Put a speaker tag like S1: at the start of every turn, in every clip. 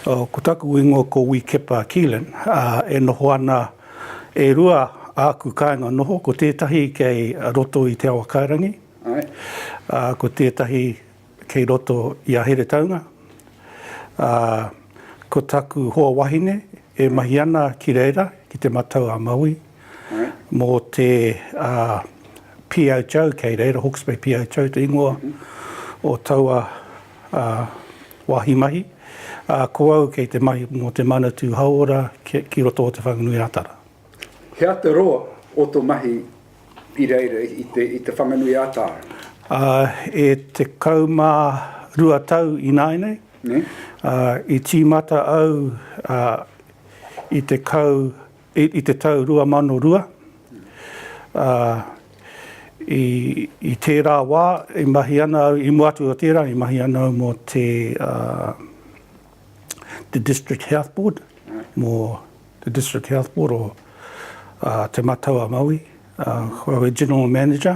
S1: Ko taku ingoa ko Wī Kepa Keelan, ā, e noho ana e rua āku kāinga noho, ko tētahi kei roto i Te Awakairangi, ā, ko tētahi kei roto i a Heretaunga. Ā, ko taku hoa wahine e mahi ana ki reira, ki Te Matau-a-Maui, mō te PHO kei reira, Hawke's Bay PHO te ingoa o taua wāhi mahi, ā, ko au kei te mahi mō te Manatū Hauora ki roto o Te Whanganui-ā-Tara. He aha te
S2: roa o tō mahi i reira i Te Whanganui-ā-Tara? E
S1: tekau mā rua tau ināianei, i tīmata au i te kau I te tau 2002, ā, i tērā wā i mahi ana au, i mua atu o tērā, i mahi ana au mō te, ā, te District Health Board, mō te District Health Board o, ā, Te Matau a Maui, ā, kua au e General Manager,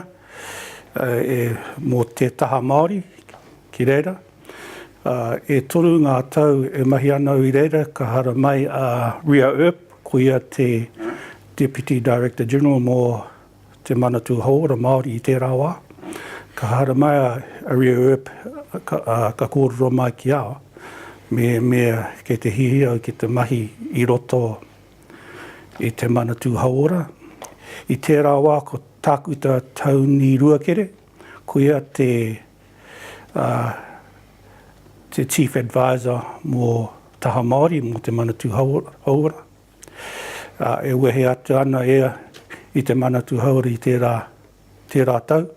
S1: ā, e, mō te taha Māori ki reira. Ā, e toru ngā tau e mahi ana au i reira, ka hara mai a Ria Earp, ko ia te Deputy Director-General mō Te Manatū Hauora Māori i tērā wā. Ka hara mai a Ria Earp, ā, ka kōrero mai ki a au, mehemea kei te hiahia au ki te mahi i roto i Te Manatū Hauora. I tērā wā ko Tākuta Tauni Ruakere, ko ia te. te Chief Adviser mō Taha Māori, mō Te Manatū Hauora, e wehe atu ana ia i Te Manatū Hauora i tērā tau.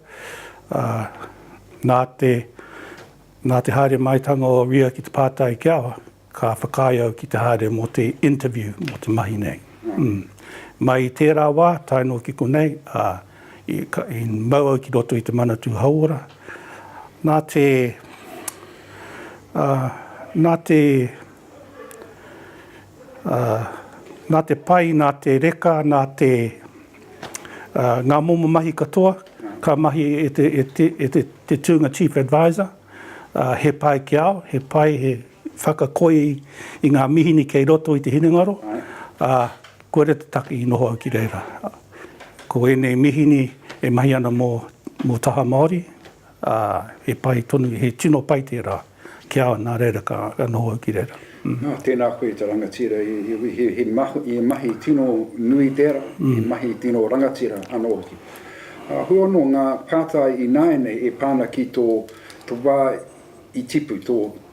S1: Nā te haere maitanga o Ria ki te pātai ki a. Ka whakaae au ki te haere mō te interview, mō te mahi nei. Mai i tērā wā, tae noa ki konei, i mau au ki roto i te Manatū Hauora. Nā te, nā te, nā te pai, nā te reka, nā te, ngā momo mahi katoa, ka mahi e te, e te, e te, te tūnga Chief Adviser. ā, he pai ki au, he pai, he whakakoi i ngā mihini kei roto i te hinengaro, ā, kua reta taki i noho au ki reira. Ko ēnei mihini e mahi ana mō, mō taha Māori, ā, he pai tonu, he tino pai tērā ki au, nā reira ka noho au ki reira. Nā, tēnā koe i
S2: te rangatira he mahi tino nui tērā, he mahi tino rangatira anō hoki. Hou anō ngā pātai ināianei e pā ana ki tō wā i tipu,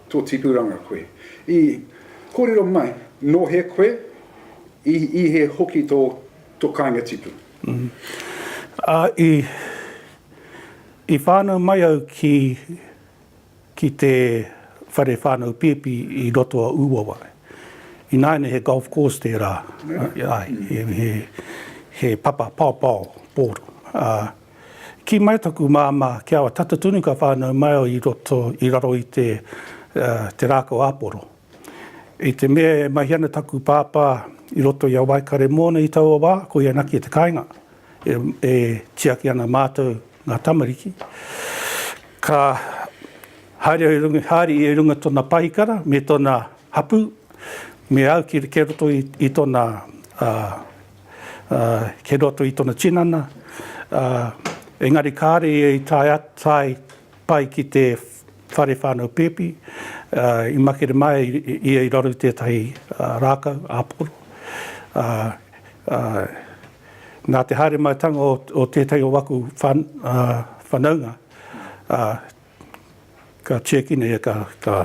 S2: tō tipuranga koe. I kōrero mai, nō hea koe, i hea hoki tō kāinga tipu?
S1: I whānau mai au ki ki te whare whānau pēpi i roto a Ūawa. Ināianei he golf course tērā, āe, he papa paopao pōro. Ā, kī mai taku māmā kia tata tonu ka whānau mai au i roto, i raro i te rākau āporo. I te mea e mahi ana taku pāpā i roto i a Waikare mōna i taua wā, koia naki te kāinga e tiaki ana mātou ngā tamariki. Ka haere ia i runga tona pahikara me tona hapū, me au ki roto i tona, ki roto i tona tinana, engari kāre ia i tae pai ki te whare whānau pēpi, i makere mai ia i raro i tētahi rākau, āporo. Nā te haere maitanga o tētahi o aku whanaunga, ka tiakina ia ka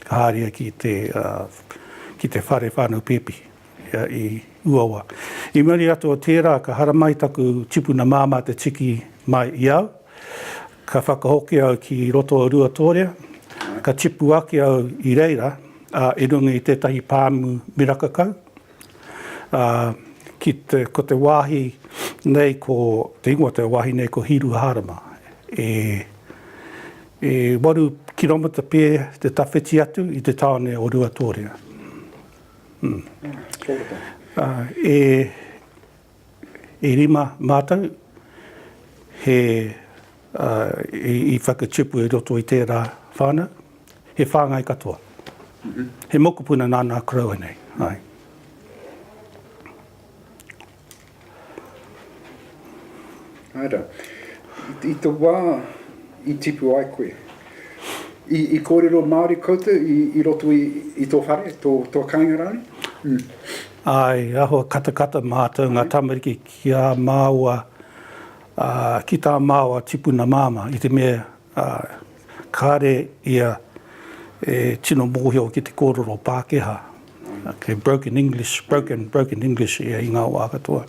S1: haere ki te whare whānau pēpi. ia i Uawa. I muri atu o tērā ka haramai taku tipuna māmā te tiki mai i au. Ka whakahoki au ki roto o Ruatōrea, ka tipu ake au i reira, ā, i runga i tētahi pāmu miraka kau, ā, ki te, ko te wāhi nei ko, te ingoa o te wāhi nei ko Hīruhārama. E, e waru kiromita pē te tawhiti atu i te tāone o Ruatōrea. E rima mātou i whakatupu i roto i tērā whānau, he whāngai katoa. He mokopuna nāna koroua nei.
S2: Ara, i to wa i tipu ai koe, i, i kōrero Māori koutou i, i roto i, i tō whare, tō, tō kainga rānei? Mm. Ai,
S1: aho katakata mātou ngā tamariki ki a māua, uh, ki tā māua tipuna māmā, i te mea ā, kāre ia e tino mōhio ki te kōrero Pākehā, kei broken English, broken, broken English ia i ngā wā katoa.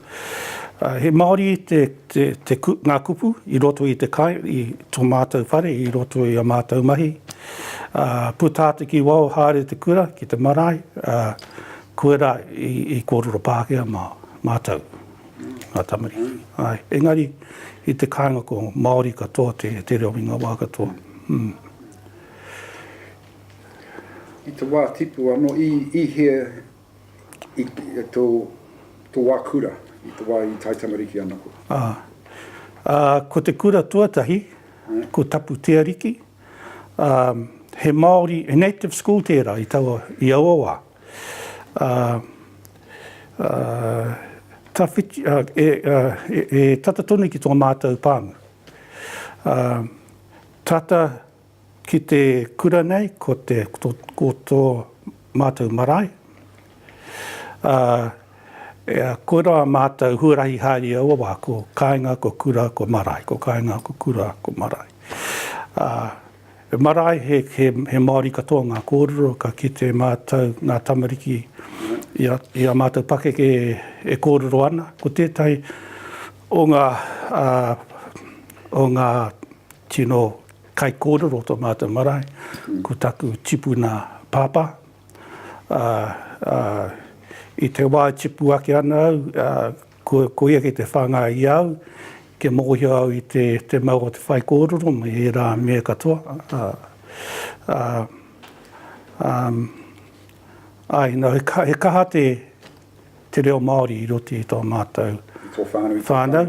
S1: Ā, he Māori te, te, te, ngā kupu i roto i te kai, i tō mātou whare, i roto i a mātou mahi. Ā, puta atu ki waho haere te kura, ki te marae, ā, koirā i, i kōrero Pākehā mā, mātou. ngā tamariki. Āe, engari, i te kāinga ko Māori katoa te, te reo i ngā wā katoa. Mm.
S2: I te wā tipu anō, i, i hea i, i tō, tō wā kura, i te wā i tae tamariki ana koe? Ā. Ā,
S1: ko te kura tuatahi, mm. ko Tapu Te Ariki. Ā, he Māori, he native school tērā i taua, i aua wā. ā, ā, tawhiti, ā, e, ā, e, e tata tonu ki tō mātou pāmu. Ā, tata ki te kura nei, ko te, ko, ko tō mātou marae, ā, e, ā, koirā mātou huarahi haere i aua wā, ko kāinga, ko kura, ko marae, ko kāinga, ko kura, ko marae. Ā. He marae, he Māori katoa ngā kōrero, ka kite mātou, ngā tamariki, i ā mātou pakeke e kōrero ana. Ko tētahi o ngā, o ngā tino kaikōrero o tō mātou marae, ko taku tipuna pāpā. I te wā e tipu ake ana au, Ko ia kei te whāngai i a au, kia mōhio au i te mau o te whaikōrero me ērā mea katoa, āe, nō, he kaha te reo Māori i roto i tō mātou whānau,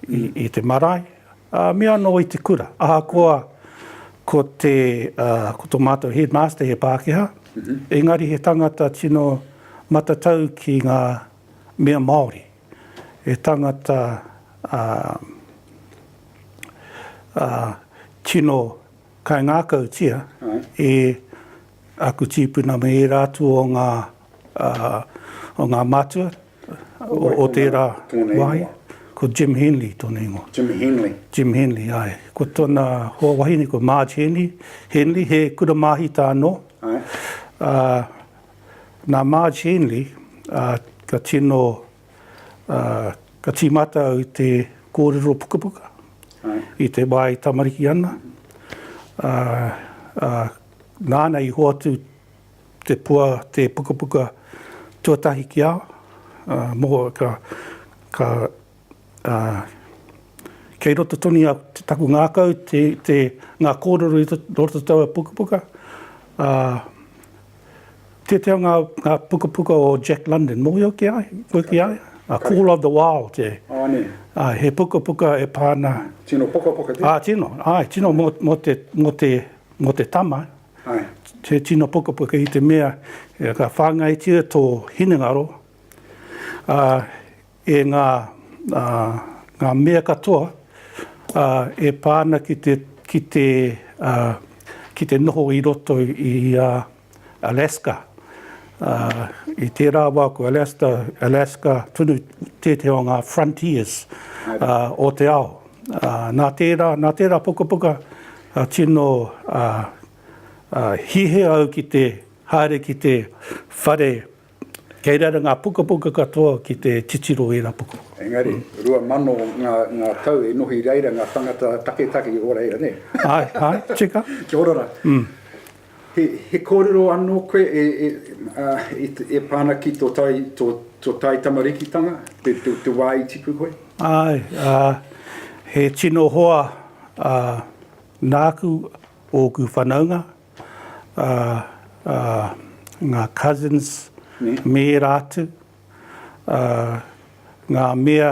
S1: i te marae, me anō i te kura. Ahakoa ko tō mātou headmaster he Pākehā, engari he tangata tino matatau ki ngā mea Māori, he tangata ā, ā, tino kaingākautia e aku tīpuna me ērā atu o ngā, ā, o ngā mātua o tērā wāhi, ko Jim Henley tōna ingoa. Jim Henley. Jim Henley, āe. Ko tōna hoa wahine ko Marge Henley, Henley, he kura māhita anō. Āe. Ā. Nā Marge Henley, ā, ka tino, ā, ka tīmata au i te kōrero pukapuka, i te wā e tamariki ana, ā, ā, nāna i hoatu te pua, te pukapuka tuatahi ki a au, ā, moho, ka, ka, ā, kei roto tonu i a taku ngākau te, te, ngā kōrero i roto i taua pukapuka. Ā, tētehi o ngā, ngā pukapuka o Jack London, mōhio ki a, koe ki a ia? A Call of the Wild, e. Āne. Āe, he pukapuka e pā ana. Tino pukapuka tēnei?
S2: Ā, tino, āe, tino mō,
S1: mō te, mō te, mō te tama. Āe. He tino pukapuka i te mea, ka whāngaitia tō hinengaro, ā, e ngā, ā, ngā mea katoa, ā, e pā ana ki te, ki te, ā, ki te noho i roto i, ā, Alaska. Ā, i tērā wā ko Alaska, Alaska tonu tētehi o ngā frontiers, ā, o te ao. Ā, nā tērā, nā tērā pukapuka, ā, tino, ā, ā, hīhē au ki te haere ki te whare, Kei reira ngā pukapuka katoa ki te titiro i ērā pukapuka. Engari, rua
S2: mano ngā, ngā tau e noho i reira ngā tāngata taketake o reira, nē? Āe, āe, tika.
S1: Kia ora rā.
S2: He, he kōrero anō koe e, e, ā, e, e pā ana ki tō tai, tō, tō tai tamarikitanga, te, te, te wā i tipu koe? Āe, ā,
S1: he tino hoa, ā, nāku, ōku whanaunga, ā, ā, ngā cousins me ērā atu, ā, ngā mea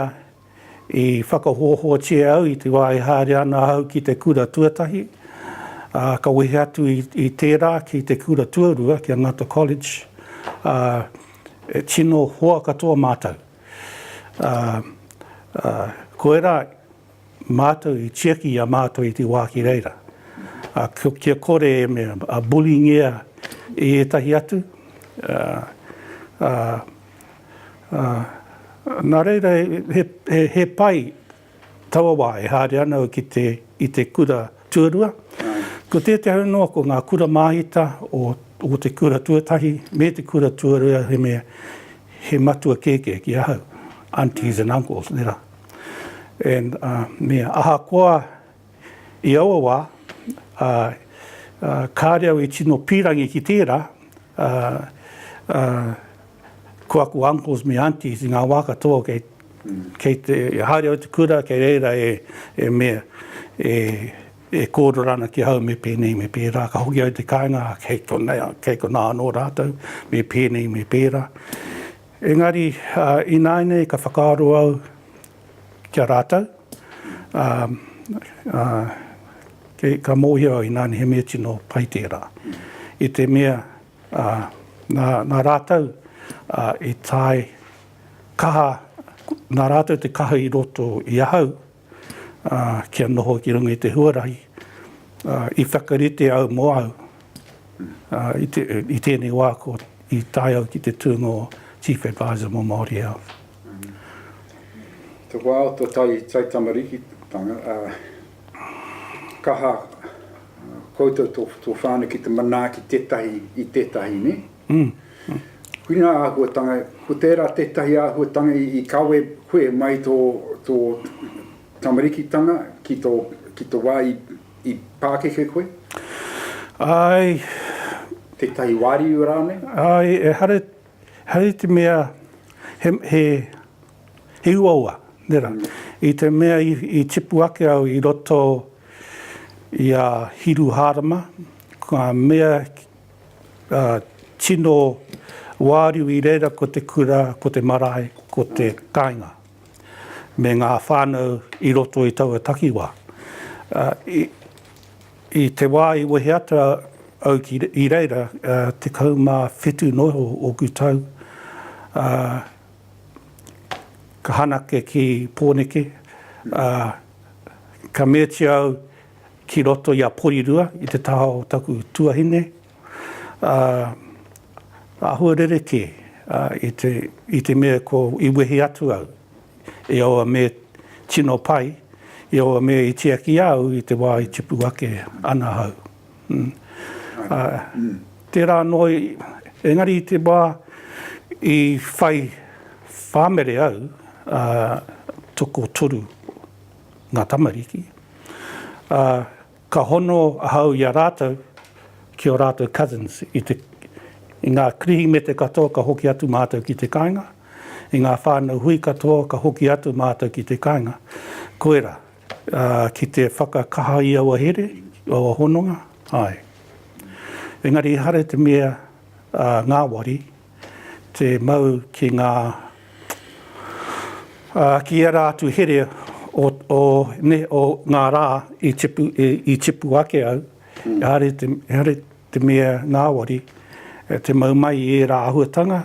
S1: i whakahohotia au i te wā e haere ana ahau ki te kura tuatahi, ā, ka wehe atu i, i tērā ki te kura tuarua, ki a Ngata College, ā, e tino hoa katoa mātou. Ā, ā, koirā Mātou i tiaki i a mātou i te wā ki reira. Ā, kia kore e mea, a bullying-ia e ētahi atu, ā, ā, ā, nā reira he, he, he pai taua wā e haere ana au ki te, i te kura tuarua. Ko tētahi au noa ko ngā kura māhita o, o te kura tuatahi me te kura tuarua he mea, he matua kēkē ki ahau, aunties and uncles, nera. And me ahakoa i aua wā, kāre au e tino pīrangi ki tērā, ko aku uncles me aunties i ngā wā katoa kei, kei te, haere au te kura kei reira e, e me, e, e kōrero ana ki ahau me pēnei me pērā, ka hoki au i te kāinga, kei konei, kei konā anō rātou, me pēnei me pērā. Engari, ināianei ka whakaaro au ki a rātou, ā, ā, kei, ka mōhio au ināianei he mea tino pai tērā, i te mea, ā, nā, nā rātou, ā, i tae kaha, nā rātou te kaha i roto i ahau, kia noho ki runga i te huarahi, i whakarite au mo au i tēnei wā ko i tae au ki te tūnga o Chief Adviser mo Māori Health.
S2: Te wā o to taitamarikitanga, kaha koutou to whānau ki te manaaki tetahi i tetahi, ne? Ki ngā āhuatanga, ko tērā tētahi āhuatanga i kawe koe mai tō tamarikitanga ki te wā i pākeke koe?
S1: Āe.
S2: Tētahi wāriu rānei? Āe,
S1: ehara i te mea he uaua, nera. I te mea i tipu ake au i roto i a Hiruhārama, ka mea tino wāriu i reira ko te kura, ko te marae, ko te kāinga, me ngā whānau i roto i taua takiwā. I te wā i wehe atu au ki, i reira, tekau mā whitu noa o ōku tau, ka hanake ki Pōneke, ka meatia au, ki roto i a Porirua i te taha o taku tuahine, ā, āhua rerekē, ā, i te, i te mea ko, i wehe atu au, i aua mea tino pai, i aua mea i tiaki au i te wā i tipu ake ana ahau. Hm. Ā, tērā anō, engari i te wā i whai whāmere au, ā, tokotoru. ngā tamariki, ā, ka hono ahau i a rātou ki ō rātou cousins i te, i ngā Kirihimete katoa ka hoki atu mātou ki te kāinga, i ngā whānau hui katoa ka hoki atu mātou ki te kāinga. Koirā, ā, ki te whakakaha i aua here, i aua hononga, āe. Engari ehara i te mea, ā, ngāwari, te mau ki ngā, ā, ki ērā atu here o, o, nē, o ngā rā i tipu, i, i tipu ake au, ehara te, ehara te mea ngāwari, te mau mai i ērā āhuatanga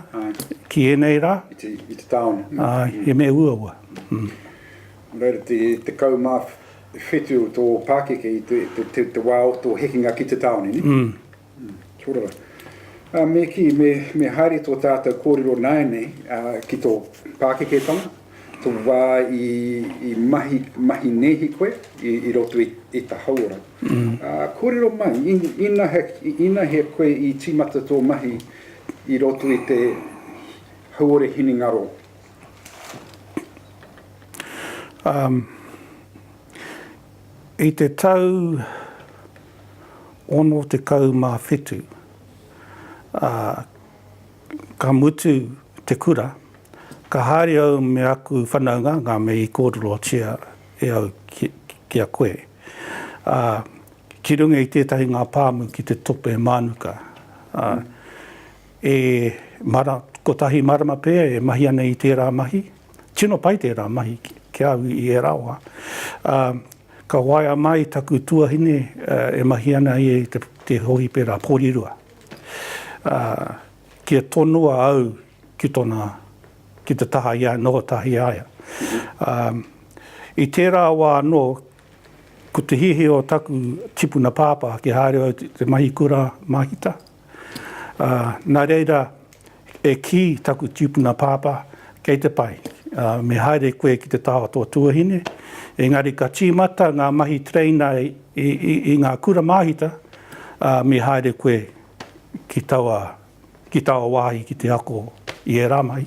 S1: ki ēnei rā. I te, i te tāone.
S2: Āe, he mea uaua. Nō reira, te tekau mā whetu o tō pākeke i te, te, te, te wā o tō hekenga ki te tāone, nē? Kia ora. Me kī, me haere tō tātou kōrero nāianei ki tō pākeketanga, tō wā i mahi nēhi koe i roto i te hauora. Kōrero mai, inahea koe i tīmata tō mahi i roto i te hauora hinengaro?
S1: I te tau 67, ā, ka mutu te kura, ka haere au me aku whanaungaanga me i kōrerotia e au ki a koe, ā, ki runga i tētahi ngā pāmu ki te tope mānuka, ā, e mara, kotahi marama pea e mahi ana i tērā mahi, tino pai tērā mahi ki a au i ērā wā, ā, Ka waea mai taku tuahine e mahi ana ia i te hōhipera Porirua, ā, kia tonoa au ki tona, ki te taha i a Noatahi Aia. Ā, i tērā wā anō, ko te hiahia o taku tipuna pāpā kia haere au ki te mahi kura māhita, Nā reira, e kī taku tīpuna pāpā, kei te pai, me haere koe ki te taha o tō tuahine, engari ka tīmata ngā mahi tereina i ngā kura māhita, ā, me haere koe ki taua, ki taua wāhi ki te ako i ērā mahi.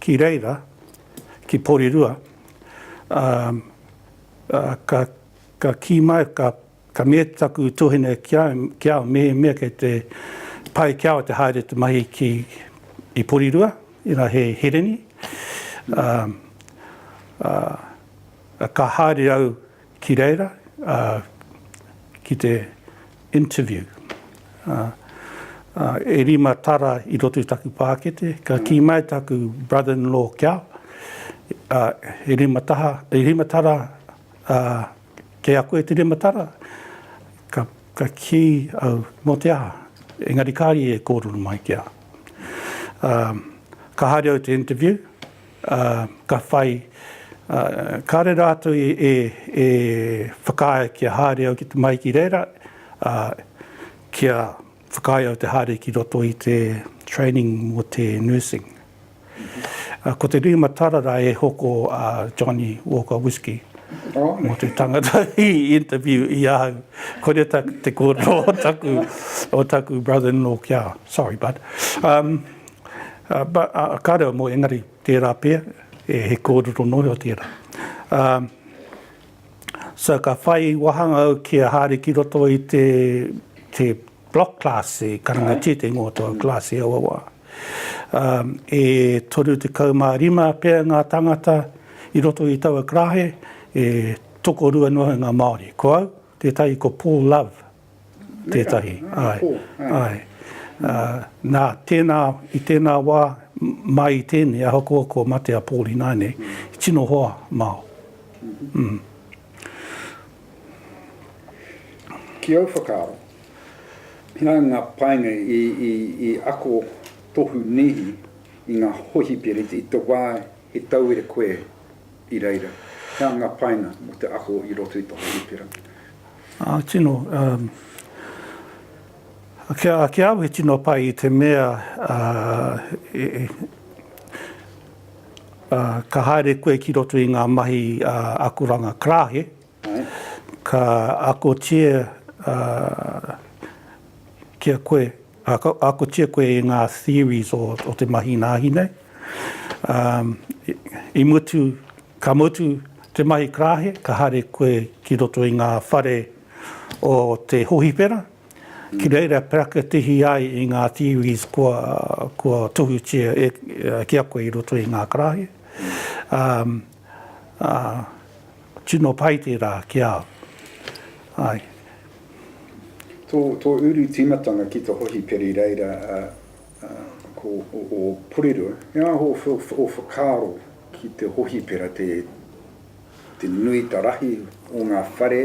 S1: Ki reira, ki Porirua, ā, ā, ka, ka kī mai, ka, ka mea taku tuahine ki au, ki au, mehemea kei te pai ki au te haere te mahi ki, i Porirua, inā he hereni, ā, ā, ā, ka haere au, Ki reira, ki te interview, e rima tara i roto i taku pākete, ka kī mai taku brother-in-law kia, e rima taha, e rima tara, kei a koe te rima tara? Ka kī au, mō te aha? Engari kāre i e kōrero mai kia. Ka haere au i te interview. ā, ka whai, ā, kāre rātou i, e, e whakaae kia haere au ki te, mai ki reira, ā, kia whakaae au te haere ki roto i te training mō te nursing. Ā, ko te rima tara rā e hoko a Johnnie Walker Whisky mō te tangata i interview i ahau. Koira ta, te kōrero o taku, o taku brother-in-law kia, sorry bud, um, But, uh, ka reo mo engari tera pea, e he korero noa iho tera. Um, so ka whai wahanga au ki a Hari ki roto i te, te block class e karangatia te ingoa tō class e aua wā. Um, e toru te kaumā rima pea ngā tangata i roto i taua karahe, e toko rua noa ngā Māori. Ko au, tētahi ko Paul Love, Tētahi, āe, āe. Ā, nā, tēnā, i tēnā wā, mai i tēnei, ahakoa kua mate a Pōl ināianei, i tino hoa māu. Mm.
S2: Ki ōu whakaaro, pērā i ngā painga i, i, i ako tohu nēhi i ngā hohipera i te wā he tauira koe i reira. He anga painga mō te ako i roto i te hōhipera. Ā,
S1: tino, ā, ki au he tino pai i te mea, ā, ā, ka haere koe ki roto i ngā mahi, ā, akoranga karāhe, Ka akotia kia koe, akotia koe i ngā theories o te mahi nāhi nei. I mutu, ka mutu te mahi karahe, ka haere koe ki roto i ngā whare o te hohipera, ki reira parakatihi ai i ngā theories kua tohutia ki a koe i roto i ngā karahe. Tino pai tērā ki a au. Ai. Tō,
S2: tō uru tīmatanga ki te hohiperi reira a, a, ko o, o Porirua, he aha o, o whakaaro ki te hohipera te, te nui ta rahi o ngā whare,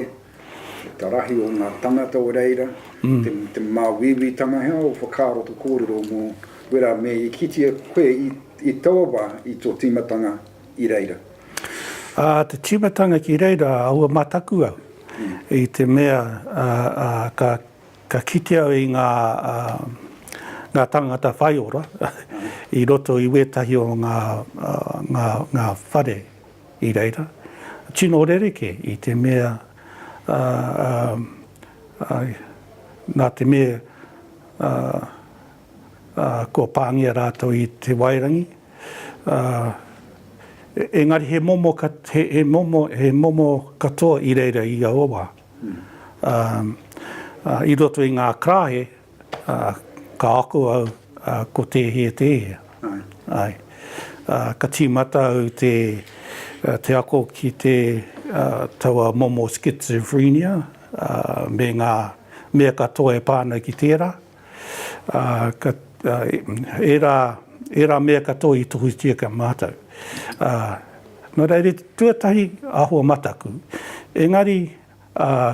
S2: ta rahi o ngā tangata o reira, te, te māuiuitanga, he aha o whakaaro to kōrero mō wera me i kitea koe i, i taua wā i tō tīmatanga? i reira. Ā,
S1: te tīmatanga ki reira, aua mataku au, i te mea ka kite au i ngā tāngata whai ora i roto i wētahi o ngā whare i reira. Tino rerekē i te mea, nā te mea, ā, kua pāngia rātou i te wairangi, ā, engari he momo, he momo, he momo katoa i reira i aua wā. Ā, ā, i roto i ngā karaehe, ā, ka ako au, ā, ko tēhea, tēhea. Āe. Ā, ka tīmata au te, te ako ki te, ā, taua momo schizophrenia, ā, me ngā mea katoa e pā ana ki tērā. ērā mea katoa i tohutia kia mātau. Nō reira, tuatahi āhua mataku, engari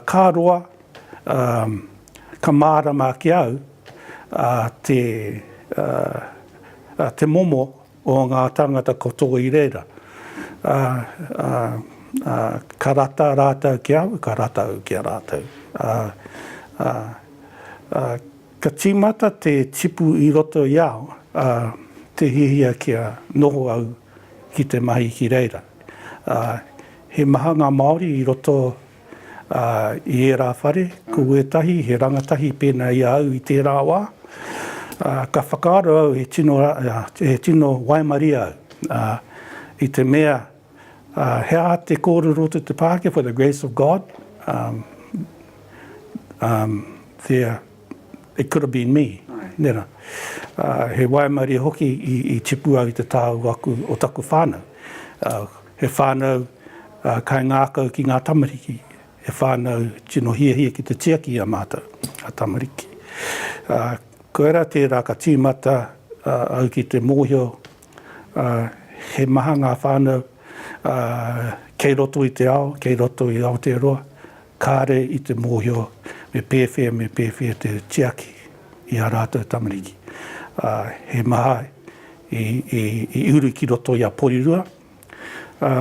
S1: ka roa, ka mārama ki a au te momo o ngā tāngata katoa i reira, ā, ā, ā, ka rata rātou ki a au, ka rata au ki a rātou. Ā, ā, ā, ka tīmata te tipu i roto i au, ā, te hiahia kia noho au ki te mahi ki reira. Ā, he maha ngā Māori i roto. ā, i ērā whare, ko ētahi he rangatahi pēnā i a au i tērā wā, ā, ka whakaaro au he tino, he tino waimarie au, ā, i te mea, ā, he aha te kōrero to te Pākehā, for the grace of God, ā, ā, there. It could have been me, nera. He waimarie hoki i tipu au i te tāu aku o taku whānau. He whānau kaingākau ki ngā tamariki, he whānau tino hiahia ki te tiaki i a mātou, a tamariki. Koirā tērā ka tīmata au ki te mōhio he maha ngā whānau kei roto i te ao, kei roto i Aotearoa, Kāre i te mōhio me pēwhea me pēwhea te tiaki i ā rātou tamariki. Ā, he maha i, i, i uru ki roto i a Porirua. Ā,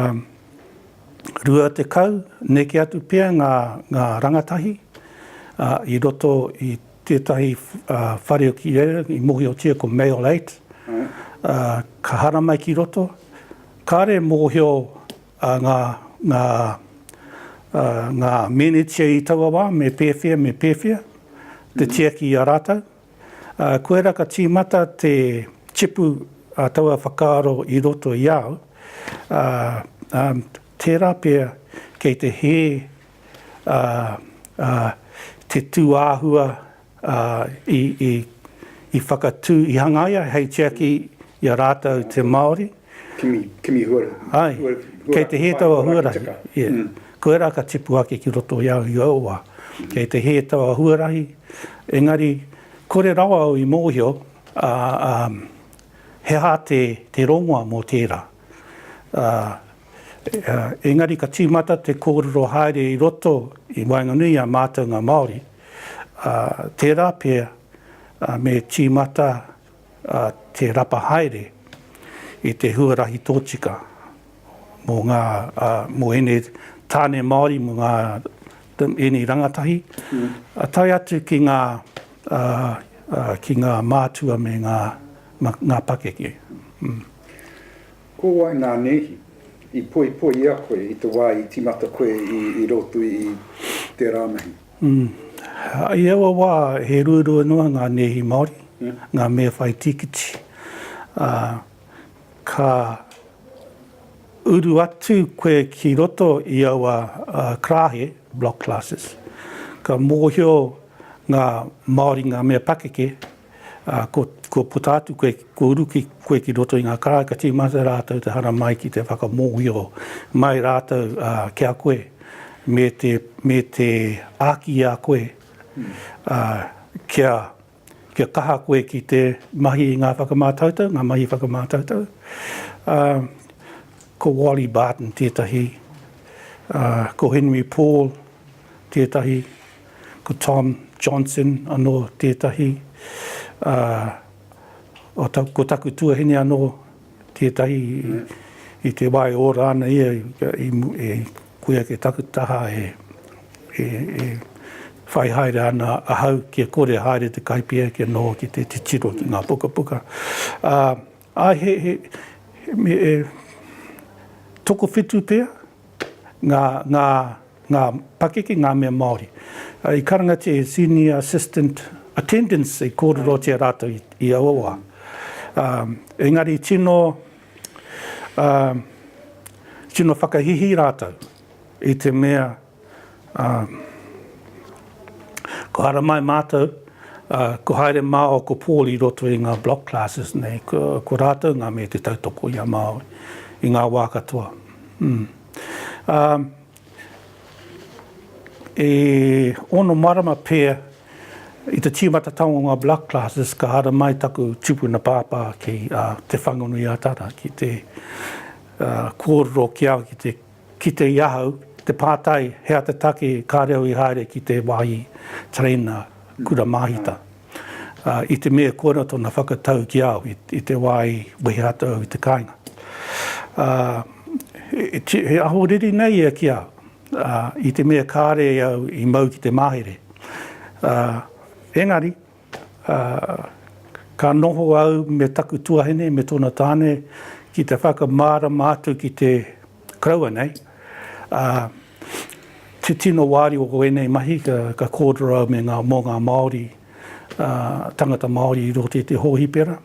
S1: 20, neke atu pea ngā, ngā rangatahi ā, i roto i tētahi ā, whare o ki reira i mōhiotia ko Male 8, ā, ka haramai ki roto. Kāre e mōhio a ngā, ngā, ā, ngā mēnētia i taua wā, me pēwhea, me pēwhea, te tiaki i a rātou. Ā, koirā ka tīmata te tipu a taua whakaaro i roto i a au, ā, ā, tērā pea kei te hē, ā, ā, te tūāhua ā, i, i, i whakatū, i hangaia hei tiaki i a rātou te Māori. Kimi, kimi
S2: huarahi. Āe, kei
S1: te hē taua huarahi, ia, koia rā ka tipu ake ki roto i a au i aua wā. Kei te hē taua huarahi, engari, kore rawa au i mōhio, ā, ā, he aha te, te rongoa mō tērā, ā, Engari ka tīmata te kōrero haere i roto i waenganui i a mātou ngā Māori, ā, tērā pea me tīmata te rapa haere i te huarahi tōtika mō ngā, mō ēnei tāne Māori, mō ngā, ēnei rangatahi, tae atu ki ngā, ki ngā mātua me ngā, ngā pakeke.
S2: Ko wai nā nēhi? I poipoia koe i te wā i tīmata koe i roto i tērā mahi?
S1: I aua wā, he ruarua noa ngā nēhi Māori, ngā mea whai tīkiti, ā, ka uru atu koe ki roto i aua karāhe, block classes, ka mōhio ngā Māori ngā mea pakeke, Ā, kua, kua puta atu koe, kua uru ki, koe ki roto i ngā karae, ka tīmata rātou te haramai ki te whakamōhio mai rātou, ā, ki a koe, me te, me te āki i a koe, ā, kia, kia kaha koe ki te mahi i ngā whakamātautau, ngā mahi whakamātautau. Ā, ko Wally Barton tētahi, ā, ko Henry Paul tētahi. Ko Tom Johnson anō tētahi, ā, ko taku tuahine anō tētahi, i te wā e ora ana ia, e koia ki taku taha e whai haere ana ahau kia kore e haere te Kaipia kia noho ki te titiro ki ngā pukapuka. Ā, he tokowhitu pea. ngā, ngā, ngā pakeke, ngā mea Māori. I karangatia e Senior Assistant Attendants i kōrerotia rātou i, i aua wā. Ā, engari tino, ā, tino whakahihī rātou i te mea Ā, ko haramai mātou, ā, ko haere māua ko Paul i roto i ngā block classes nei, ko, ko rātou ngā mea te tautoko i a Māui, i ngā wā katoa. Mm. Ā, e ono marama pea i te tīmatatanga o ngā block classes ka haramai taku tupuna pāpā ki, ā, Te Whanganui-a-Tara, ki te, ā, kōrero ki a, ki te Kite i ahau te pātai he aha te take ka reo i haere ki te wāhi tereina kura māhita. I te mea koina tōna whakatau ki a au i te wā i wehe atu au i te kāinga. He aho riri nei ia ki a au i te mea kāre au i mau ki te mahere. Engari, Ā, ka noho au me taku tuahine me tōna tāne ki te whakamārama atu ki te koroua nei, ā, te tino wāri o ēnei mahi ka kōrero au me ngā, mō ngā Māori, ā, tangata Māori i roto i te hōhipera.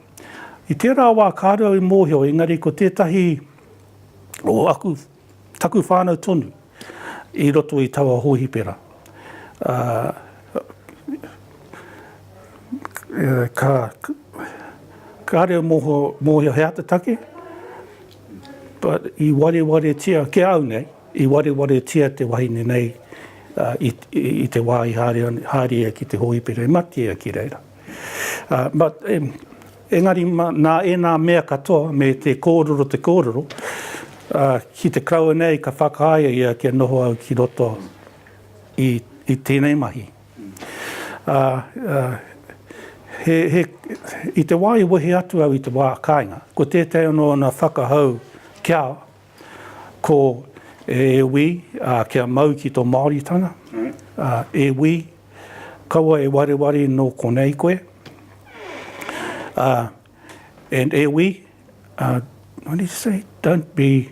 S1: I tērā wā kāre au i mōhio engari ko tētahi o aku Taku whānau tonu i roto i taua hōhipera, ā, ka, ka reo moho, mōhio he ata take, but i warewaretia, ki a au nei, i warewaretia te wahine nei i, i te wā i haere, haere ia ki te hōhipera, i mate ia ki reira. Ā, but, Engari, nā ēnā mea katoa, me te kōrero te kōrero, ki te karaua nei ka whakaāia ia kia noho au ki roto i tēnei mahi. I te wā i wehe atu au i te wā kāinga, ko tētahi anō ōna whakahau kia Ko e wī, kia mau ki tō Māoritanga. E wī, kaua e wareware nō konei koe. And e wī, what did he say, don't be.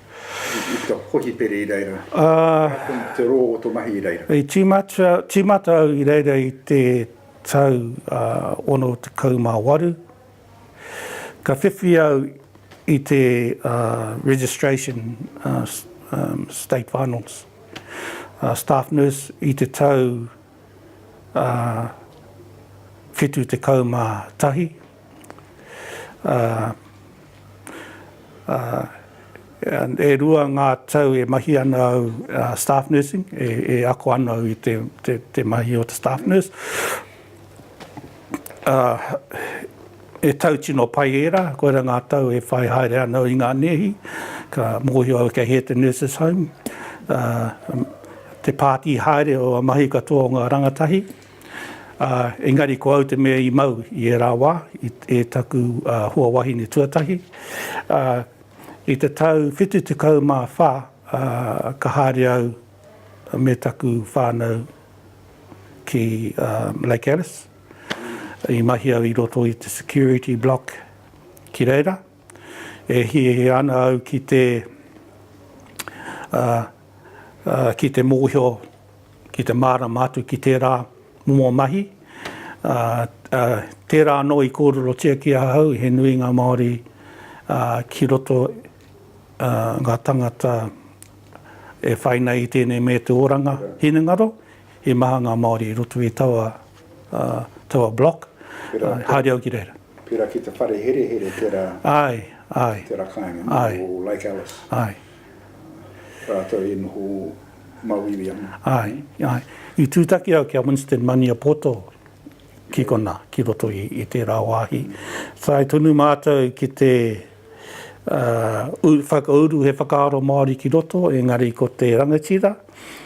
S2: I puta kohi pere i reira. Arā tonu te rō o tō mahi i reira. I
S1: tīmata au i reira i te tau 68. Ka whiwhi au i te Registration State Finals Staff Nurse i te tau 71. E rua ngā tau e mahi ana au staff nursing, e ako ana au i te mahi o te staff nurse. He tau tino pai ērā, koirā ngā tau e whai haere ana au i ngā nēhi, ka mōhio au kei hea te nurses home, te pātī haere o ngā mahi katoa o ngā rangatahi. Ā, engari ko au te mea i mau i ērā wā, i, e taku ā, hoa wahine tuatahi. Ā, i te tau whitu tekau mā whā, ā, ka haere au me taku whānau ki ā, Lake Alice. I mahi au i roto i te security block ki reira. E hiahia ana au ki te, ā, ā, ki te mōhio, ki te mārama atu ki tērā momo mahi, ā, tērā anō i kōrerotia ki ahau, he nui ngā Māori ki roto, ā, ngā tāngata e whai nei i tēnei me te oranga hinengaro, he maha ngā Māori i roto i taua, ā, taua block, haere au ki reira. Pērā ki te whare
S2: herehere tērā, āe, āe, tērā kāinga nō Lake Alice, āe, rātou i noho mauiui ana. Āe,
S1: āe. I tūtaki au ki a Winston Maniapoto ki konā, ki roto i tērā wāhi. Tae tonu mātou ki te whakauru he whakaaro Māori ki roto, engari ko te rangatira,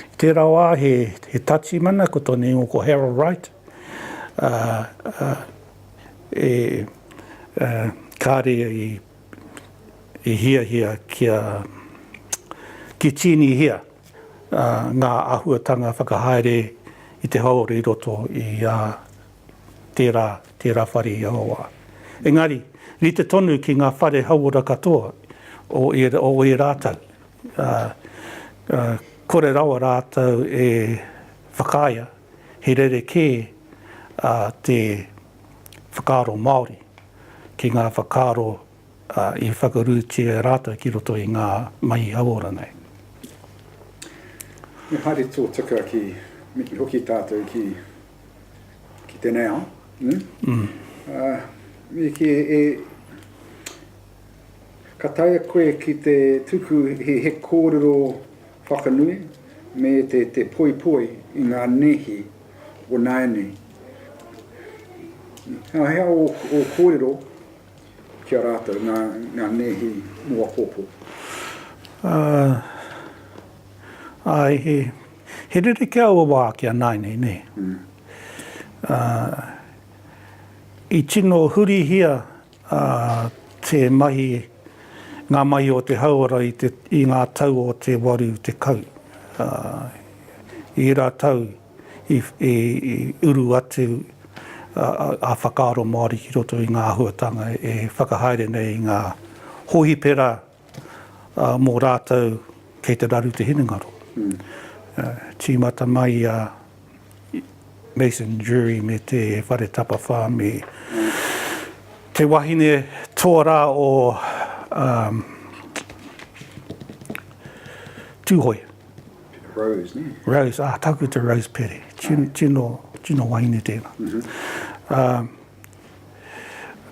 S1: i tērā wā he Tatsimana, ko tōna ingoa ko Harold Wright, kāre i. i hiahia kia kitinihia ngā āhuatanga whakahaere i te hāora i roto i tērā, tērā whare i Awawa. Engari, rite tonu ki ngā whare hauora katoa o ērā tau. Kore rawa rātou e whakaea. he rerekē te whakaaro Māori ki ngā whakaaro i whakarūtia e rātou ki roto i ngā mahi hauora nei.
S2: Me haere tōtika ki hoki tātou ki tēnei ao, me kī, ka taea koe ki te tuku he kōrero Whakanui, me te te poipoi i ngā nēhi o nāianei. He aha ō kōrero ki a rātou, ngā, ngā nēhi mō apōpō? Ā,
S1: āe, he, he rerekē aua wā ki a nāianei, nē. Ā, i tino hurihia ā, tē mahi ngā mahi o te hauora i te, i ngā tau o te 80, ā, i ērā tau i, i, i uru atu ā, ā whakaaro Māori ki roto i ngā āhuatanga e whakahaere nei i ngā hōhipera, mō rātou kei te raru te hinengaro. Tīmata mai a Mason Durie me Te Whare Tapawhā me te wahine toa rā o Tūhoe. Rose,
S2: nē? Rose, ā, Tākuta
S1: Rose Pere. Tino, tino wahine tēnā.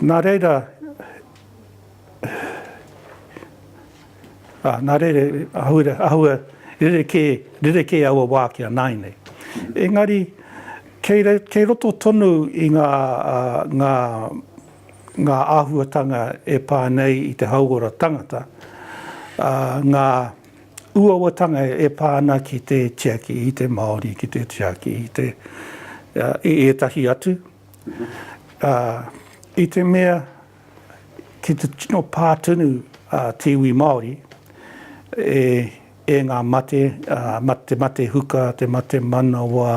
S1: Nā reira, Ā, nā reira, ahaura, ahaua rerekē, rerekē aua wā ki a nāinei. Engari, kei, kei roto tonu i ngā, ngā, ngā āhuatanga e pā nei i te hauora tangata, ā, ngā uauatanga e pā ana ki te tiaki i te Māori, ki te tiaki i te, i ētahi atu, ā, i te mea Ki te tino pā tonu a te iwi Māori e ngā mate, te mate huka, te mate manawa,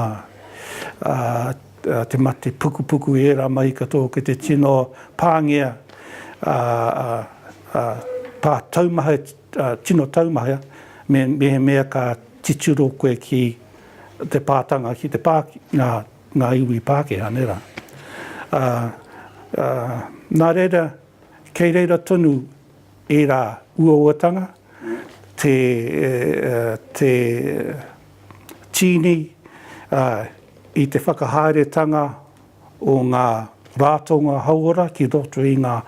S1: te mate pukupuku, i ērā mahi katoa, ki te tino pāngia, pā taumaha, tino taumaha, mehemea ka titiro koe ki te pātanga, ki te pā, nā, ngā iwi Pākehā, nē rā. Ā, ā, nā reira, kei reira tonu ērā uauatanga, te, te tīni, ā, i te whakahaeretanga o ngā rātonga hauora ki roto i ngā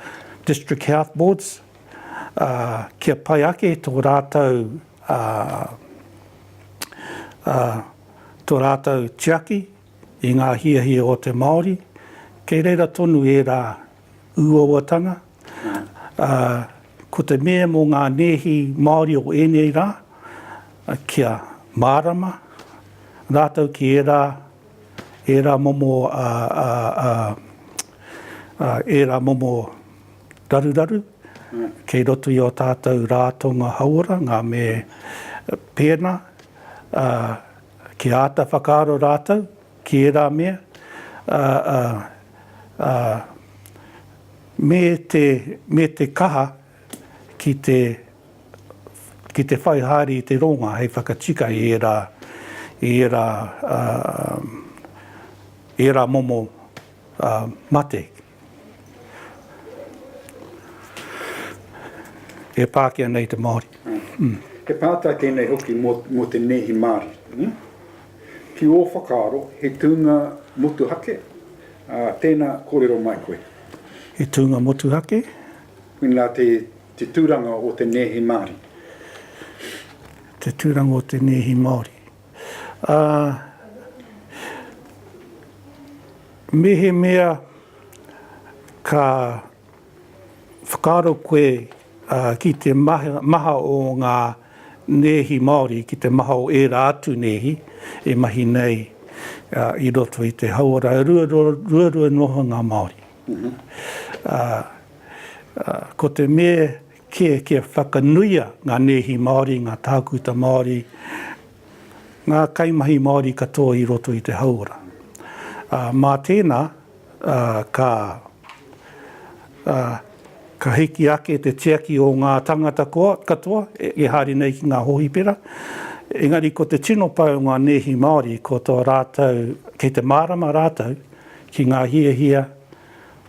S1: District Health Boards, ā, kia pai ake tō rātou, ā, ā, tō rātou tiaki i ngā hiahia o te Māori, kei reira tonu ērā uauatanga, ā, ko te mea mō ngā nēhi Māori o ēnei rā, kia mārama rātou ki ērā, ērā momo, ā, ā, ā, ā, ērā momo raruraru kei roto i ō tātou rātonga hauora, ngā me pēnā, Ā, kia āta whakaaro rātou ki ērā mea, ā, ā, ā, me te, me te kaha ki te, ki te whai haere i te rōnga hei whakatika i ērā, i ērā, ā, ērā momo, ā, mate. E Pākehā nei te Māori. He pātai
S2: tēnei hoki mō te nēhi Māori. Ki ō whakaaro, he tūnga motuhake tēnā kōrero mai koe? He tūnga
S1: motuhake? Mēnā
S2: te tūranga o te nēhi Māori.
S1: Te tūranga o te nēhi Māori. Ā, mehemea ka whakaaro koe ki te maha o ngā nēhi Māori, ki te maha o ērā atu nēhi e mahi nei i roto i te hauora ruarua noa o ngā Māori, ko te me Kē, kia whakanuia ngā nēhi Māori, ngā tākuta Māori, ngā kaimahi Māori katoa i roto i te hauora. Ā, mā tēnā, ā, ka, ā, ka hiki ake te tiaki o ngā tāngata koa, katoa, e haere nei ki ngā hōhipera. Engari ko te tino pai o ngā nēhi Māori, ko tō rātou, kei te mārama rātou ki ngā hiahia,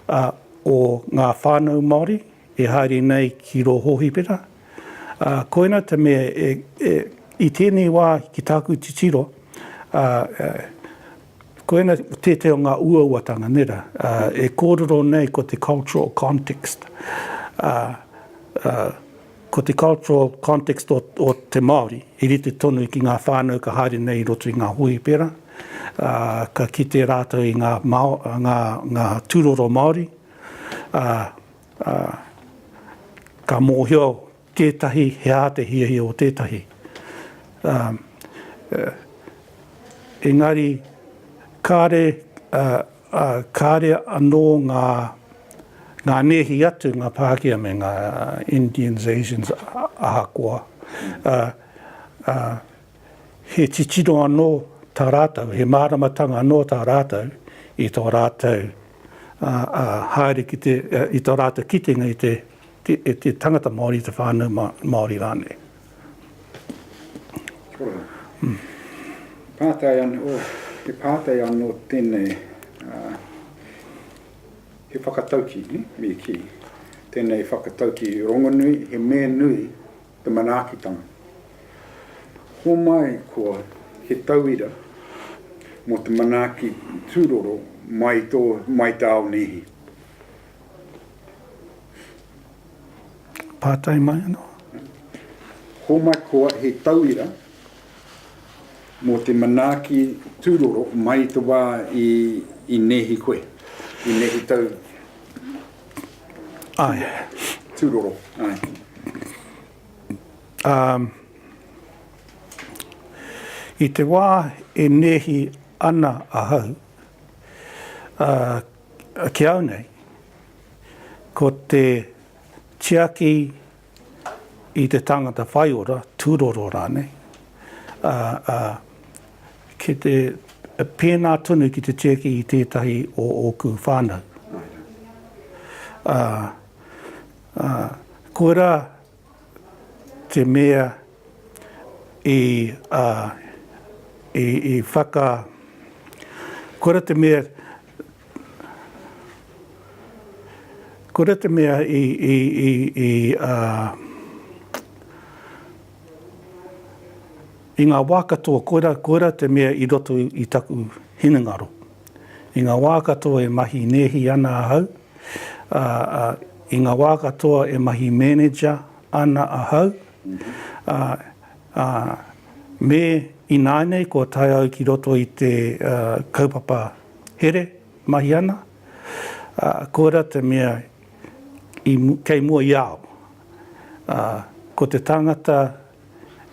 S1: ā, o ngā whānau Māori, E haere nei ki rō hōhipera. Ā, koina te mea e, e, i tēnei wā ki tāku titiro, ā, ā, koina tētahi o ngā uauatanga, nē rā, ā, e kōrero nei ko te cultural context. Ā, ā, ko te cultural context o, o te Māori i rite tonu ki ngā whānau ka haere nei i roto i ngā hōhipera, ā, ka kite rātou i ngā, ngā, ngā tūroro Māori, ā, ā, ka mōhio tētahi he aha te hiahia o tētahi, ā, ā, engari kāre, ā, ā, kāre anō ngā, ngā nēhi atu, ngā Pākehā me ngā Indians, Asians, ahakoa, ā, ā, He titiro anō tā rātou, he māramatanga anō tā rātou i tō rātou haere ki te, i tō rātou kitenga i te tangata Māori, i te whānau Māori rānei.
S2: Pātai anō, he pātai anō tēnei, he whakatauki, me kī, tēnei whakatauki rongonui, he me nui, te manaakitanga. Homai koa he tauira mō te manaaki tūroro mai tō mai tāo nēhi.
S1: Pātai mai anō.
S2: Homai koa he tauira mō te manaaki tūroro mai te wā i, i nēhi koe, i nēhi tau Ae. Tūroro. Ae. Ā,
S1: i te wā e nēhi ana ahau, ā, ki au nei, ko te tiaki i te tangata whaiora, tūroro rānei, ā, ā, ki te pēnā tonu ki te tiaki i tētahi o ōku whānau. Ā, ā, koirā te mea i, ā, i, i whaka, koirā te mea Ko re te mea i i i i a i nga wa katoa koira koira te mea i roto i taku hinengaro. I nga wa katoa e mahi nehi ana ahau a a i nga wa katoa e mahi manager ana ahau a Ā, me ināianei kua tae au ki roto i te kaupapa here mahi ana, ā, koirā te mea i, kei mua i a au. Ā, ko te tāngata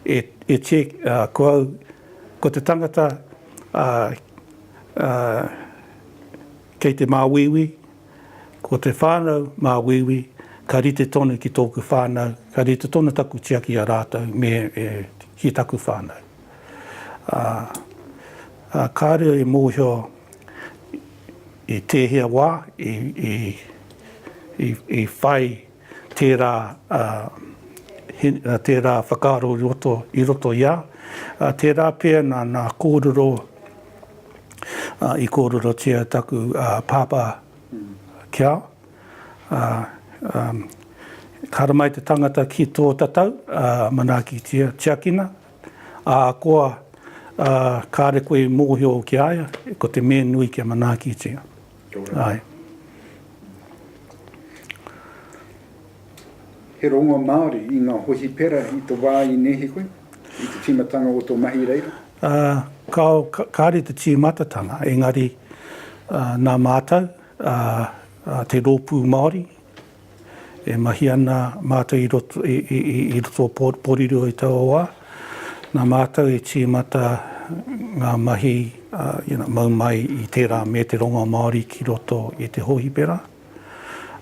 S1: e, e che, ā, ko au, ko te tangata, ā, ā, kei te māuiui, Ko te whānau mā Wīwī, ka rite tonu ki tōku whānau, ka rite tonu taku tiaki i a rātou me ki taku whānau. Ā, kāre e mōhio i tēhea wā i whai tērā, ā, tērā whakaaro i roto i a, ā, tērā pea nā, nā kōrero, ā, i kōrerotia taku, ā, pāpā ki a, ā, ā, ka haramai te tangata ki tō tatau, ā, manaakitia, tiakina, ahakoa, ā, kāre koe i mōhio ki a ia, ko te me nui kia manaakitia. Āe.
S2: He rongo Māori i ngā hohipera i te wā i nēhi koe, i te tīmatanga o tō mahi i reira? Kao, kāre
S1: te tīmatatanga, engari nā mātou, te Rōpū Māori, E mahi ana mātou i roto, i, i, i, i roto o Port Porirua i taua wā. Nā mātou i tīmata ngā mahi uh, you know, mau mai i tērā me te rongo Māori ki roto i te hōhipera.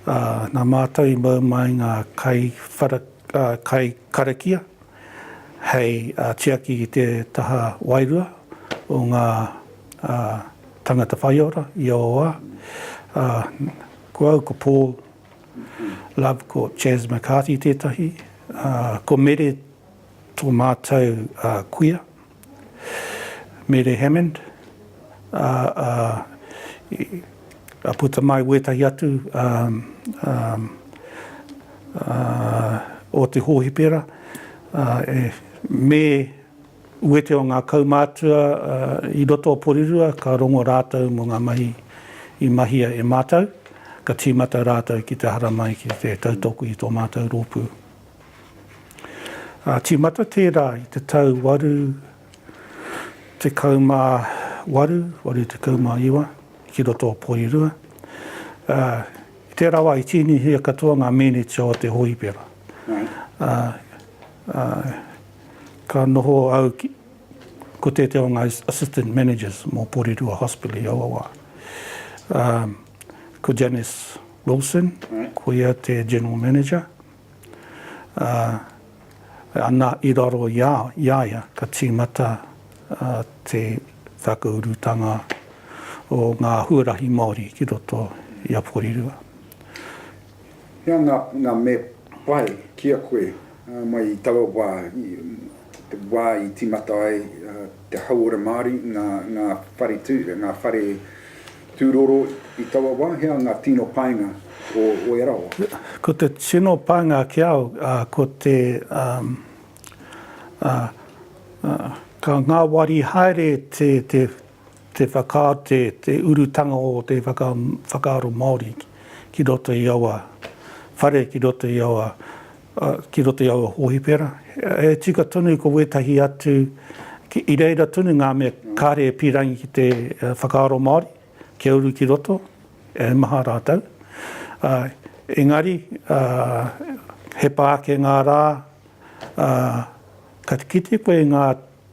S1: Uh, nā mātou i mau mai ngā kai, whara, uh, kai karakia hei uh, tiaki i te taha wairua o ngā uh, tangata whaiora i aua wā. Uh, Ko au ko Paul Love, ko Chas McCarty tētahi, ko Mere tō mātou kuia, Mere Hammond, a puta mai wētahi atu o te hōhipera, me Wete o ngā kaumātua i roto o Porirua ka rongo rātou mō ngā mahi i mahia e mātou, ka tīmata rātou ki te haramai ki te tautoko i tō mātou rōpū. Ā, tīmata tērā i te tau 88, 89 ki roto o Porirua. Ā, i tērā wā i tīnihia katoa ngā mēniti o te hōipera. Ā, Ka noho au ki, ko tētehi o ngā Assistant Managers mō Porirua Hospital i aua wā. Ā, ko Janice Wilson, ko ia te General Manager. Ā, anā, i raro i a, i a ia ka tīmata te whakaurutanga o ngā huarahi Māori ki roto i a Porirua.
S2: He aha nga me pai ki a koe mai i taua wa, te wa i timata ai te hauora Maori, nga whare tu, nga whare tu roro i taua wa, he aha nga tino painga o oe rawa? Ko te tino
S1: painga ki au ko te ka ngawari haere te. Te whakaate te urutanga o te whakaaro Māori ki roto i aua whare, ki roto i aua, ki roto i aua hōhipera. He tika tonu ko wētahi atu, i reira tonu ngā mea kāre e pīrangi ki te whakaaro Māori, kia uru ki roto, he maha rātou. Engari, he pā ake ngā rā, ka kite koe i ngā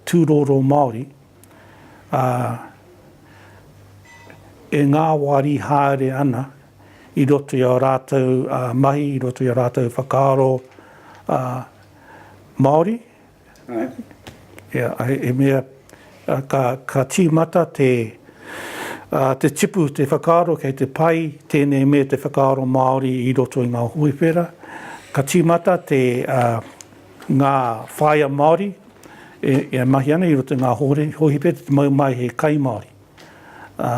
S1: tūroro Māori, ā, e ngāwari haere ana i roto i ō rātou mahi, i roto i ō rātou whakaaro Māori. He mea ka tīmata te tipu, te whakaaro kei te pai tēnei me te whakaaro Māori i roto i ngā hōiwhera. Ka tīmata ngā whāia Māori e, e mahi ana i roto i ngā hōhore, hōhi pea te mau mai he kai Māori. Ā,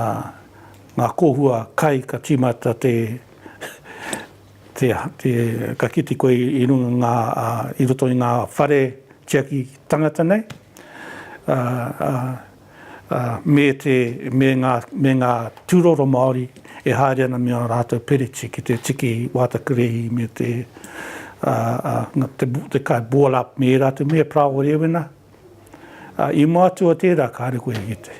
S1: ngā kōhua kai ka tīmata te, te, te, ka kite koe i runga ngā, ā, i roto i ngā whare tiaki tangata nei. Ā, ā, me te, me ngā, me ngā tūroro Māori e haere ana me ā rātou pereti ki te tiki wātakerehi me te, te kai boil up me ērā atu mea, pra o rēwena. I mātua tērā kāre koe i te.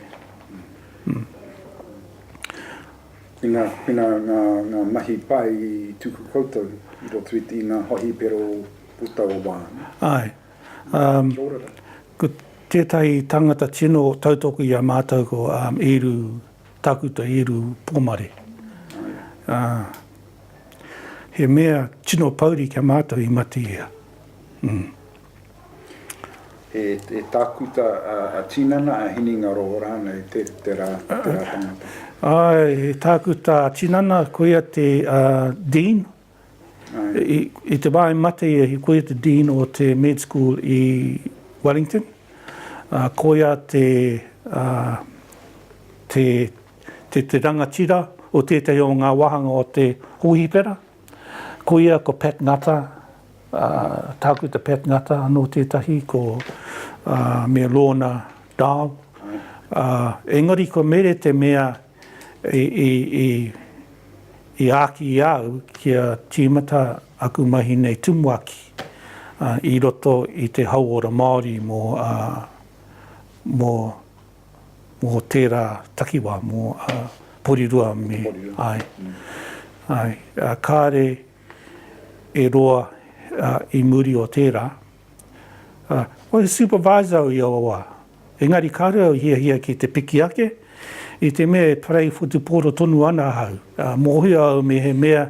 S2: Tēnā, tēnā ngā, ngā mahi pai i tuku koutou i roto i ngā hohipero puta o wāna. Āe.
S1: Ko tētahi tangata tino tautoko i a mātou ko Īru Tākuta Īru Pomare. He mea tino pouri ki a mātou i mate ia.
S2: He tākuta a tinana, a hinengaro rānei tērā tangata? Āe, he
S1: tākuta a tinana, koia te Dean I te wā i mate ia, he koia te Dean o te Med School i Wellington, ā, koia te, ā, te, te, te rangatira o tētahi o ngā wāhanga o te hōhipera. Koia ko Pat Ngata, ā, Tākuta Pat Ngata anō tētahi, ko, ā, me Lorna Dow, ā, engari kua mere te mea i āki i a au kia tīmata aku mahi nei tumuaki i roto i te hauora Māori mō tērā takiwā, mō Porirua me. Kāre e roa i muri o tērā, ko he supervisor au i aua wā, Engari kāore au i hiahia ki te piki ake, i te mea e parei whutupōro tonu ana ahau. Mōhio au mehemea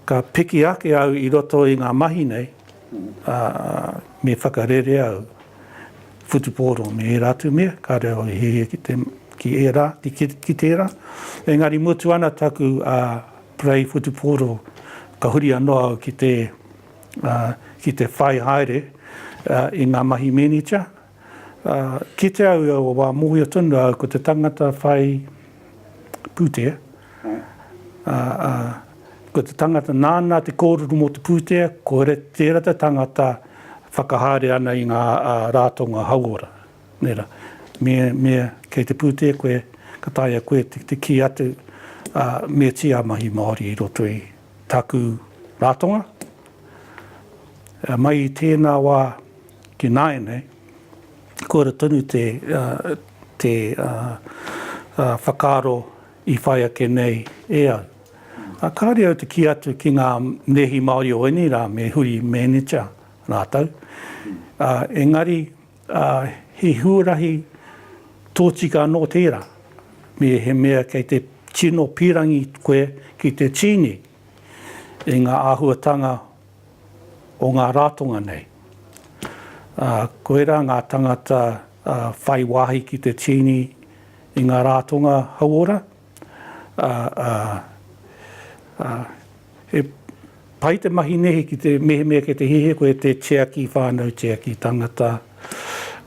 S1: ka piki ake au i roto i ngā mahi nei, ā, me whakarere au whutupōro me ērā atu mea, kāore au i hiahia ki te, ki ērā, ki tērā. Engari mutu ana taku parei whutupōro, ka huri anō au ki te. ki te whai haere i ngā mahi mēnita. Kite au i aua wā, mōhio tonu au ko te tangata whai pūtea, ko te tangata nāna te kōrero mō te pūtea, ko tērā te tangata whakahaere ana i ngā rātonga hauora. Me kei te pūtea koe, ka taea koe te kī atu me tī a mahi Māori i roto i. Taku ratonga, mai i tēnā wā ki nāianei, koira tonu te te whakaaro i whai ake nei e au. Kāore au te kī atu ki ngā Nehi Māori o ēnei rā me huri mēnita rātou, engari, Ā, he huarahi tōtika anō tērā, mehemea kei te tino pīrangi koe ki te tīni i ngā āhuatanga o ngā rātonga nei. Ā, koirā ngā tāngata whai wāhi ki te tīni i ngā rātonga hauora. ā, ā, ā, he pai te mahi nei ki te mehemea kei te hiahia koe e te tiaki whānau, tiaki tangata,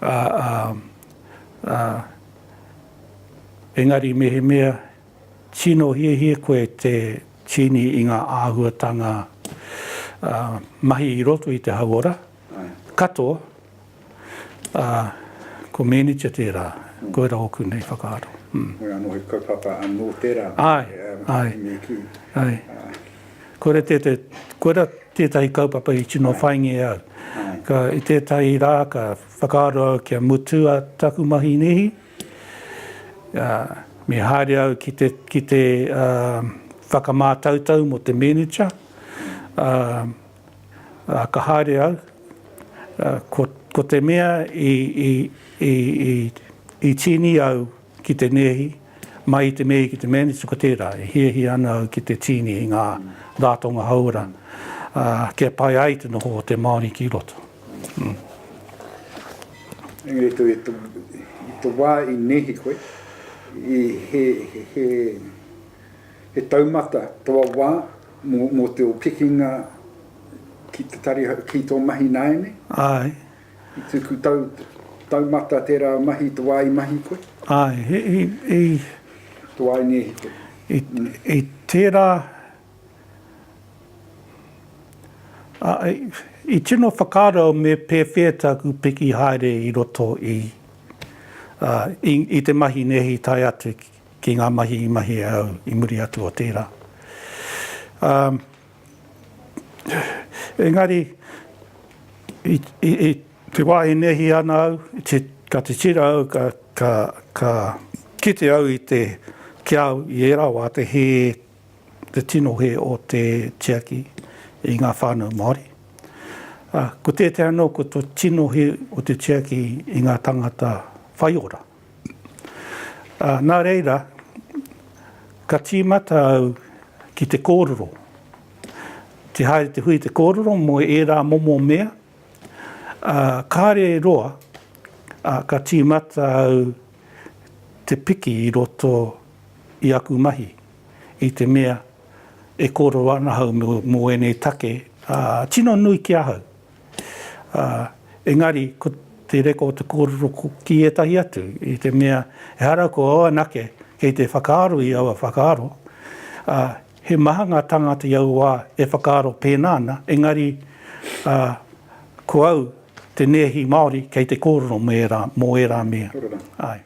S1: ā, ā, ā, engari mehemea tino hiahia koe te tīni i ngā āhuatanga, ā, mahi i roto i te hauora, Katoa, ā, ko Mēnitia tērā, koirā ōku nei whakaaro. Hoi anō he
S2: kaupapa anō tērā i
S1: Mēkī. Āe, āe. Koirā tētahi kaupapa i tino whāingia e au. I tētahi rā ka whakaaro au kia mutu taku mahi nēhi, ā, me haere au ki te whakamātautau mō te Mēnitia, ā, Ka haere au, ko te mea i tīni au ki te nēhi, mai i te nēhi ki te manage, ko tērā, e hiahia ana au ki te tīni i ngā rātonga hauora, kia pai ai te noho o te Māori ki roto.
S2: Engari tō i tō wā i nēhi koe, he taumata tō wā, Mō te o kekinga ki te tari, ki tō mahi nāianei? Āe.
S1: I tuku
S2: tau, taumata tērā mahi te wā i mahi koe? Āe, i. Te wā i ngēhi koe? I
S1: tērā, ā, i tino whakaaro au me pēwhea tāku piki haere i roto i, ā, i te mahi nēhi tae atu ki. ki ngā mahi i mahia au i muri atu o tērā. Um, engari, i, i, i te wā e nehi ana au, te, ka te tira au, ka, ka, ka kite au i te, ki au i ērā wā te he, te tino he o te tiaki i ngā whānau Māori. Uh, ko tētai anō, ko te tino he o te tiaki i ngā tangata whaiora. Ā, nā reira, ka tīmata au ki te kōrero. Te haere te hui te kōrero mō ērā momo mea, ā, kāre e roa, ā, ka tīmata au te piki i roto i aku mahi i te mea e kōrero ana ahau mō ēnei take, ā, tino nui ki ahau. Ā, engari, ko te reko o te kōrero ki ētahi atu, i te mea, ehara ko au anake kei te whakaaro i aua whakaaro, ā, he maha ngā tāngata i aua wā e whakaaro pēnā ana, engari, ā, ko au te nēhi Māori kei te kōrero mō ērā, mō ērā mea. Āe.